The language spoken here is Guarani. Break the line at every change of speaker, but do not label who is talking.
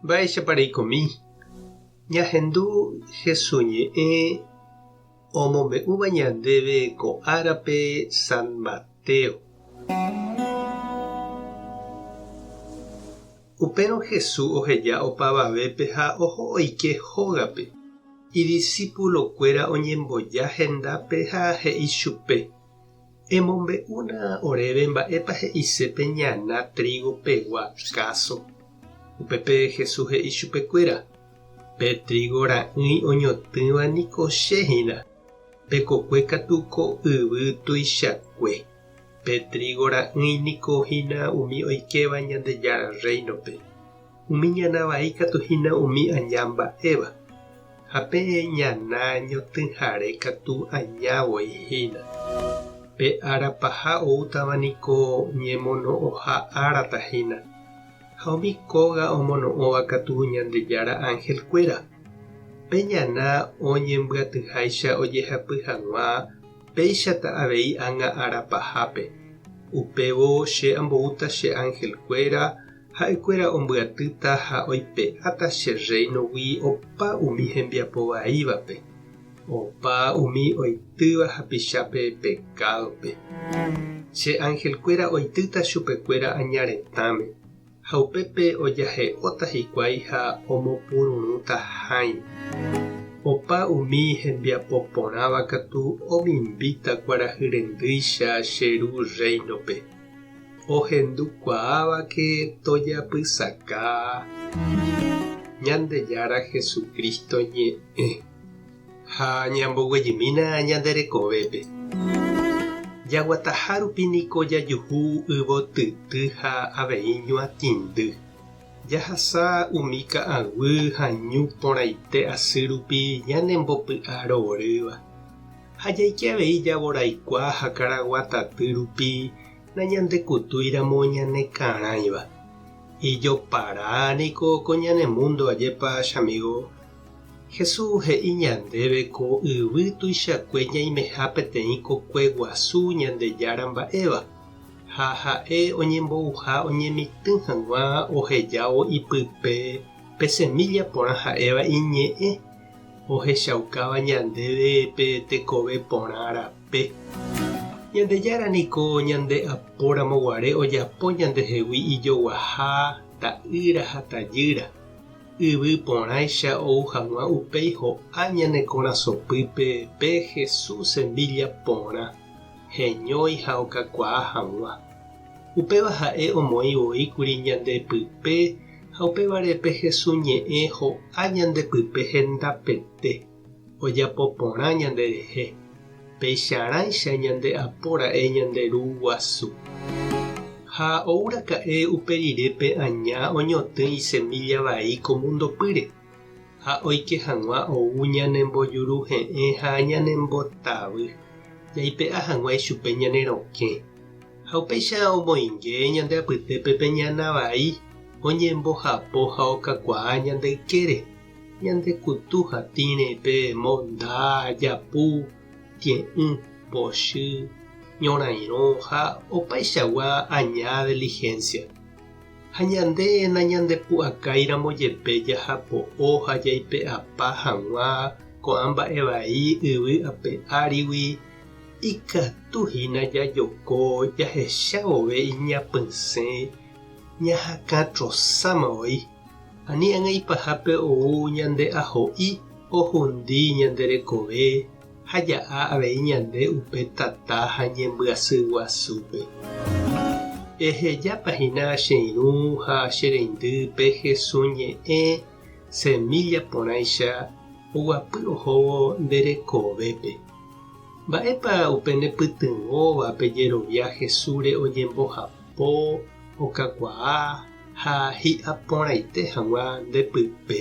Mba'éichapa reikomi ñahendu Jesús ñe'ẽ omombe'úva ñandéve ko árape San Mateo. Upérõ Jesús oheja opavavépe ha oho oike hógape. Idisipulokuéra oñemboja hendápe ha he'i chupe. Emombe'úna oréve mba'épa he'ise pe ñana trígo pegua káso. Upépe Jesús he'i chupekuéra, Pe trígo ra'ỹi oñotỹva niko che hína. Pe kokue katu ko yvy tuichakue. Pe trígo ra'ỹi niko hína umi oikéva Ñandejára Rréinope. Umi ñana vai katu hína umi aña mba'éva, ha peẽ ñana ñotỹhare katu aña voi hína. Pe ára paha oútava niko ñemono'õha árata hína, ha umi kóga omono'õva katu Ñandejára angelkuéra. Pe ñana oñembyatyháicha ojehapy hag̃ua péichata avei ág̃a ára pahápe, upévo che amboúta che angelkuéra Ha'ekuéra ombyatýta ha oipe'áta che Rréinogui opa umi hembiapo vaívape, opa umi oitýva hapichápe pekádope. Che angelkuéra oitýta chupekuéra aña retãme, ha upépe ojahe'óta hikuái ha omopururũta hãi. Opa umi hembiapo porãva katu omimbíta kuarahy rendýicha che Ru Rréinope. ohendukuaávake tojapysaka Ñandejára Jesucristo ñe'ẽ ha ñamboguejymína ñande rekovépe. Jaguataha rupi niko jajuhu yvotyty ha avei ñuatĩndy. Jahasa umi ka'aguy ha ñu porãite asy rupi ñanembopy'aro orýva, Ha jaike avei javoraikuaa ha karagua taty rupi nañandekutúiramo ñanekarãiva. Ijopara niko ko ñane múndo ajépa chamígo. Jesús he'i ñandéve ko yvy tuichakue ñaimeha peteĩ kokue guasu Ñandejára mba'éva, ha ha'e oñembouha oñemitỹ hag̃ua ohejávo ipype pe semílla porã ha'éva iñe'ẽ, ohechaukáva ñandéve pe tekove porã rape. Ñandejára niko ñande apóramo guare ojapo ñandehegui ijoguaha ta'ýra ha tajýra, yvy porãicha ou hag̃ua upéi ho'a ñane korasõpýpe pe Jesús semílla porã, heñói ha okakuaa hag̃ua. Upéva ha'e omoĩ voi kuri ñande pype Ha upévare pe Hesu ñe'ẽ ho'a ñande pype hendapete, ojapo porã ñande rehe, peicharãicha ñande apo ra'e ñande Ru guasu. Ha ou raka'e upe rire pe aña oñotỹ isemílla vai ko múndo pýre. ha oike hag̃ua ou ñanembojuruhe'ẽ ha ñanembotavy, jaipe'a hag̃ua ichupe ñane rokẽ. Ha upéicha omoinge ñande apytépe pe ñana vai oñembojapo ha okakuaa ñande ykére, ñande kutu ha tĩre pe monda, japu, tie'ỹ, pochy, ñorairõ ha opaichagua aña deligencia. Ha ñande nañandepu'akáiramo jepe jahapo'o ha jaipe'apa hag̃ua ko'ã mba'e vai yvy ape árigui, ikatu hína jajoko jahecha vove iñapysẽ ñahakã trosáma voi, ani ag̃aipahápe ou ñande aho'i ohundi ñande rekove, ha ja'a avei ñande upe tata ha ñembyasy guasúpe. Ehejápa hína che irũ ha che reindy pe Hesu ñe'ẽ semílla porãicha oguapy ohóvo nde rekovépe. Mba'épa upe ne pytyvõva pe jerovia Hesúre oñembohapo, okakuaa ha hi'aporãite hag̃ua nde pype?